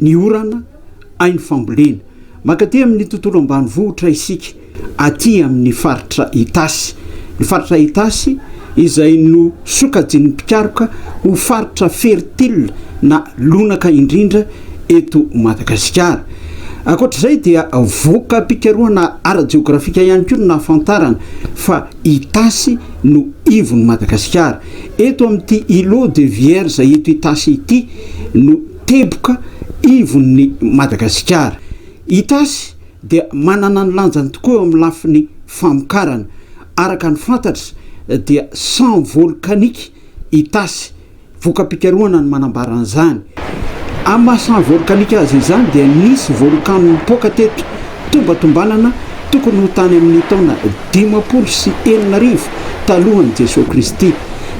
ny orana, haino fambolena. Mankaty amin' ny tontolo ambanivohitra isika, aty amin' ny faritra Itasy. Ny faritra Itasy, izay nosokajin' ny mpikaroka ho faritra fertila na lonaka indrindra eto Madagasikara. Ankoatra izay dia voka-pikarohana ara-jeôgrafika ihany koa no nahafantarana fa. Itasy no ivon'i Madagasikara. Eto amin'ity Îlot de Vierge eto Itasy ity no teboka ivon'i Madagasikara. Itasy dia manana ny lanjany tokoa eo amin'ny lafiny famokarana. Araka ny fantatra dia sans volcanique Itasy. Voka-pikarohana no manambara an'izany. Amin'ny maha saha volkanika azy izany dia nisy volkano nipoaka teto, tombatombanana tokony ho tany amin'ny taona dimampolo sy enina arivo talohan'i Jesoa Kristy.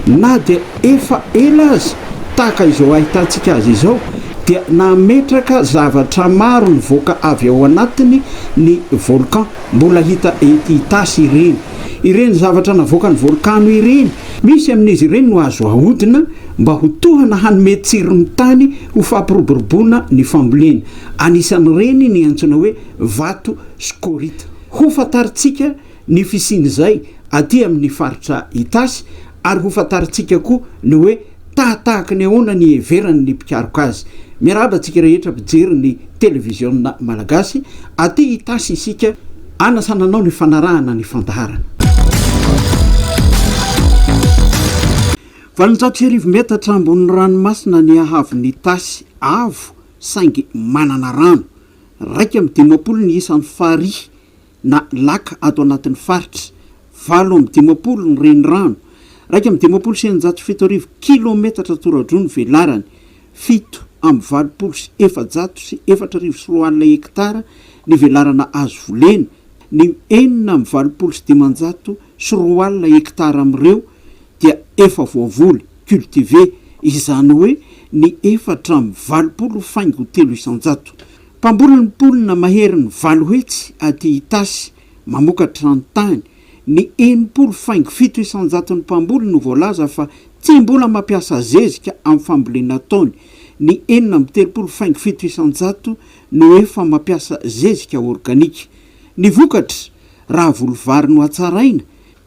Na dia efa ela aza tahaka izao ahitantsika azy izao dia nametraka zavatra maro nivoaka avy ao anatiny ny volcan. Mbola hita ety Itasy ireny, ireny zavatra navoakan'ny volkano ireny. Misy amin'izy ireny no azo ahodina mba ho tohana hanome tsiron'ny tany ho fampiroboroboana ny fambolena. Anisan'ireny ny antsoina hoe vato skorita. Hofantarintsika ny fisian'izay aty amin'ny faritra Itasy ary hofantarintsika koa ny hoe Tahatahaky ny ahoana ny iheverany ny mpikaroka azy? Miarahaba antsika rehetra mpijery ny Televiziona Malagasy. Aty Itasy isika anasana anao ny fanarahana ny fandaharana. Valonjato sy arivo metatra ambonin'ny ranomasina ny haavon'Itasy avo saingy manana rano. Iraika amby dimampolo ny isan'ny farihy na lac ato anatin'ny faritra. Valo amby dimampolo ny renirano. Iraika amby dimampolo sy eninjato sy fito arivo kilaometatra tora-droa ny velarany. Fito amby valopolo sy efajato sy efatra arivo sy roa alina hektara ny velarana azo volena. Ny enina amby valopolo sy dimanjato sy roa alina hektara amin'ireo dia efa voavoly, cultivé, izany hoe ny efatra amby valopolo faingo telo isanjato. Mpamboly ny mponina maherin'ny valo hetsy aty Itasy mamokatra ny tany. Ny enimpolo faingo fito isan-jaton'ny mpamboly no voalaza fa tsy mbola mampiasa zezika amin'ny fambolena ataony. Ny enina amby telopolo faingo fito isan-jato no efa mampiasa zezika organika. Ny vokatra, raha voly vary no hatsaraina,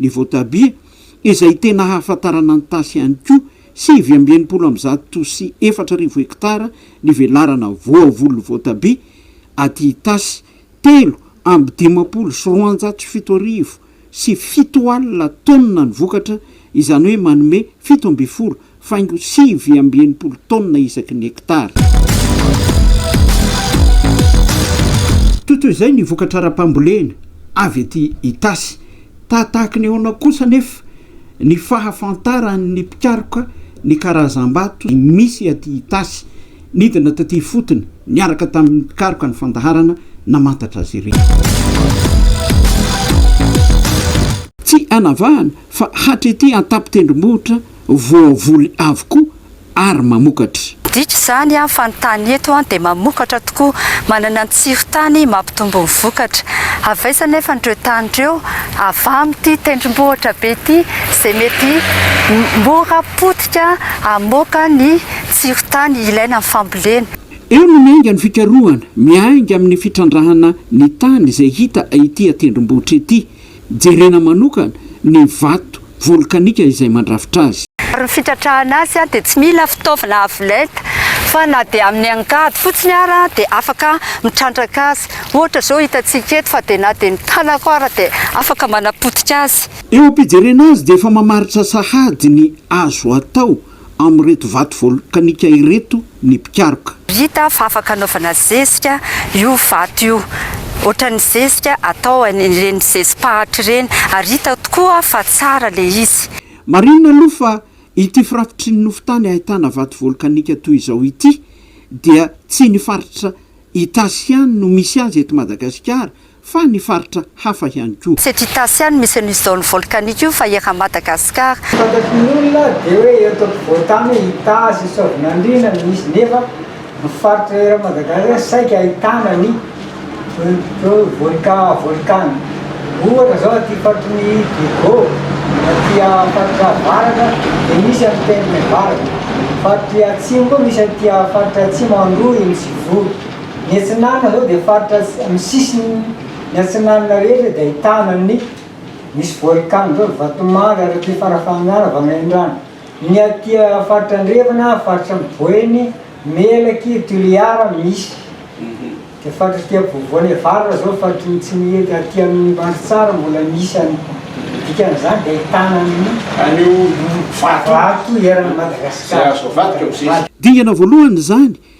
ny voatabia, izay tena ahafantarana ny tasy ihany koa, sivy amby enimpolo amby zato sy efatra arivo hektara ny velarana voavolon'ny voatabia aty Itasy, telo amby dimampolo sy roanjato sy fito arivo sy fito alina taonina ny vokatra, izany hoe manome fito ambin'ny folo faingo sivy amby enimpolo taonina isaky ny hektara. Totoy izay ny vokatra ara-pambolena avy ety Itasy. Tahatahaky ny ahoana kosa anefa ny fahafantaran'ny mpikaroka ny karazam-bato misy aty Itasy? Nidina taty ifotony niaraka tamin'ny mpikaroka ny fandaharana namantatra azy ireny. Tsy anavahana fa hatretỳ an-tampon-tendrombohitra voavoly avokoa ary mamokatra. Dika izany fa ny tany eto dia mamokatra tokoa, manana ny tsiron-tany mampitombo ny vokatra. Avaiza anefa an'ireo tany ireo avy amin'ity tendrombohitra be ity izay mety mora potika hamoaka ny tsiron-tany ilaina amin'ny fambolena? Eo no miainga ny fikarohana, miainga amin'ny fitrandrahana ny tany izay hita ity an-tendrombohitra ity. Jerena manokana ny vato volkanika izay mandrafitra azy. Ary ny fitratrahana azy dia tsy mila fitaovana avo lenta fa na dia amin'ny angady fotsiny ara dia afaka mitrandraka azy. Ohatra izao hitantsika eto fa dia na dia ny tanako ara dia afaka manapotika azy. Eo am-pijerena azy dia efa mamaritra sahady ny azo atao. amin'ireto vato volkanika ireto ny mpikaroka. Hita fa afaka anaovana zezika io vato io, ohatran'ny zezika atao an'ireny zezi-pahatra ireny, ary hita tokoa fa tsara ilay izy. Marihina aloha fa ity firafitry ny nofon-tany ahitana vato volkanika toy izao ity dia tsy ny faritra Itasy ihany no misy azy eto Madagasikara, fa ny faritra hafa ihany koa. Tsy eto Itasy ihany misy an'io zone volcanique io fa eran'i Madagascar. Fantatr'nyolona dia hoe eto ampovoantany hoe Itasy, Soavinandriana no misy nefa ny faritra eran'i Madagascar saika ahitana ny volcan volcan ohatra zao aty faritry ny Diego aty faritra avaratra dia misy an'i Pernevarga, faritry atsimo koa misy aty faritra atsimo Androy, Nosy Vory. Ny Atsinanana zao dia faritra amin'ny sisiny ny Atsinanana rehetra dia ahitana ny misy volcan zao Vatomanga ary aty Farafahanjana Vanorendrano ny aty faritra andrefana faritra Boeny Melaky Toliara misy dia faritra aty ampovoany avaratra zao faritry ny Tsimihety aty amin'ny Mandritsara mbola misy any dikan'izany dia ahitana ny an'io vato eran'i Madagasikara. Dingana voalohany izany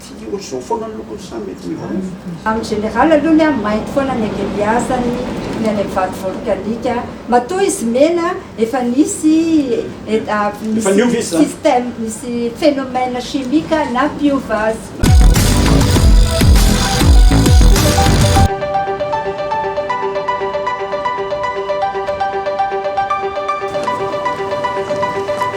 Tsy ohatr'izao foana ny lokony sa mety miovaova? Amin'ny général aloha ny ahy mainty foana ny akebiazany, ny any amin'ny vato volcanique a. Matoa izy mena efa nisy Efa niova izy zany? système, nisy phénomène chimique nampiova azy.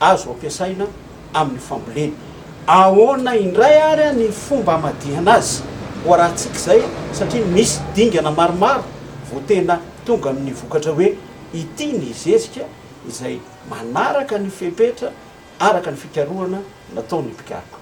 azo ampiasaina amin'ny fambolena. Ahoana indray ary ny fomba hamadihana azy ho arahantsika izay satria misy dingana maromaro vao tena tonga amin'ny vokatra hoe ity ny zezika izay manaraka ny fepetra araka ny fikarohana nataon'ny mpikaroka.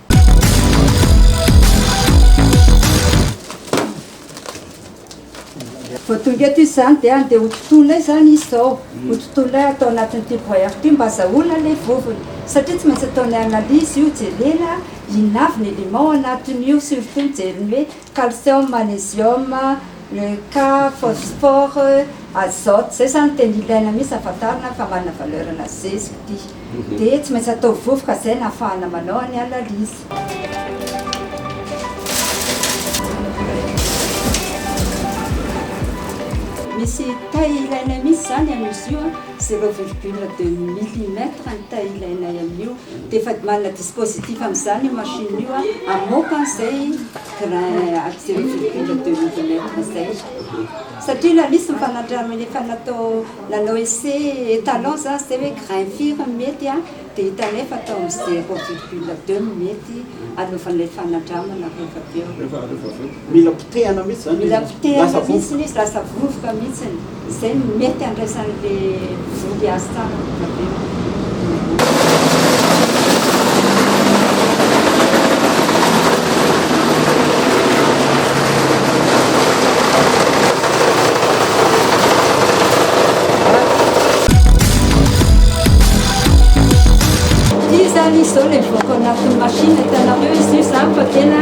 Vao tonga eto izy izany dia handeha hotontonina izany izy izao, hotontonina atao anatin'ity broyeur ity mba hazahoana ilay vovony. Satria tsy maintsy ataony analyse io, jerena inona avy ny élément ao anatin'io, surtout mijery ny hoe calcium, magnesium, le K, phosphore, azote, izay izany tena ilaina mihitsy hahafantarana fa manana valeur-na zezika ity. Dia tsy maintsy atao vovoka izay no hahafahana manao ny analyse. Misy taille ilainay mihitsy izany amin'izy io an, zero virgule deux millimètre ny taille ilainay amin'io dia efa manana dispositif amin'izany io machine io an, hamoaka an'izay grain ato zero virgule deux millimètre izay. Satria la misy ny fanandramana efa natao nanao essai étalon izany izay hoe grain firy no mety an. Dia hita anefa tao amin'ny zéro virgule deux minute anaovana ilay fanandramana rehefa be eo. Mila potehana mihitsy izany izy. Mila potehana mihitsy izy, lasa vovoka mihitsy. Izay no mety handraisan'ilay vody azy tsara vao tavela ny vody. Ity zany izy zao le voako anatin'ny machine hitanareo izy io zany fa tena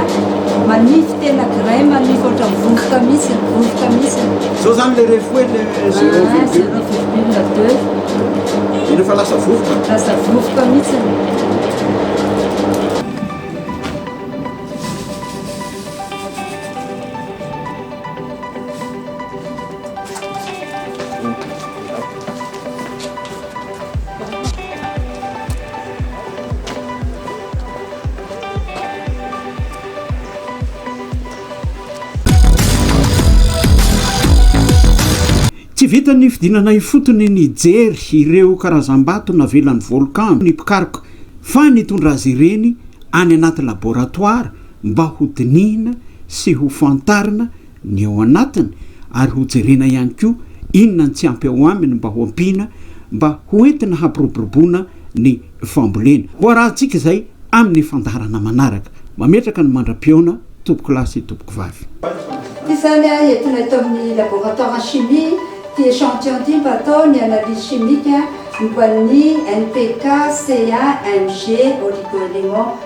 manify tena grain manify ohatra vovoka mihitsy vovoka mihitsy zao zany le refoe le zero ah, virgule deux iny fa lasa vovoka lasa vovoka mihitsy Tsy vitan'ny nifidianana ifotony nijery ireo karazam-bato navelan'ny volcan ny mpikaroka fa nitondra azy ireny any anaty laboratoara mba ho dinihina sy ho fantarina ny ao anatiny ary hojerena ihany koa inona ny tsy ampy ao aminy mba ho ampiana mba ho entina hampiroboroboana ny fambolena. Ho arahantsika izay amin'ny fandaharana manaraka. Mametraka ny mandra-pihaona tompoko lahy sy tompoko vavy. Izany ahy entina eto amin'ny laboratoire chimie ity échantillon ity mba atao ny analyse chimique momba ny NPK, CA, Mg, oligo-éléments.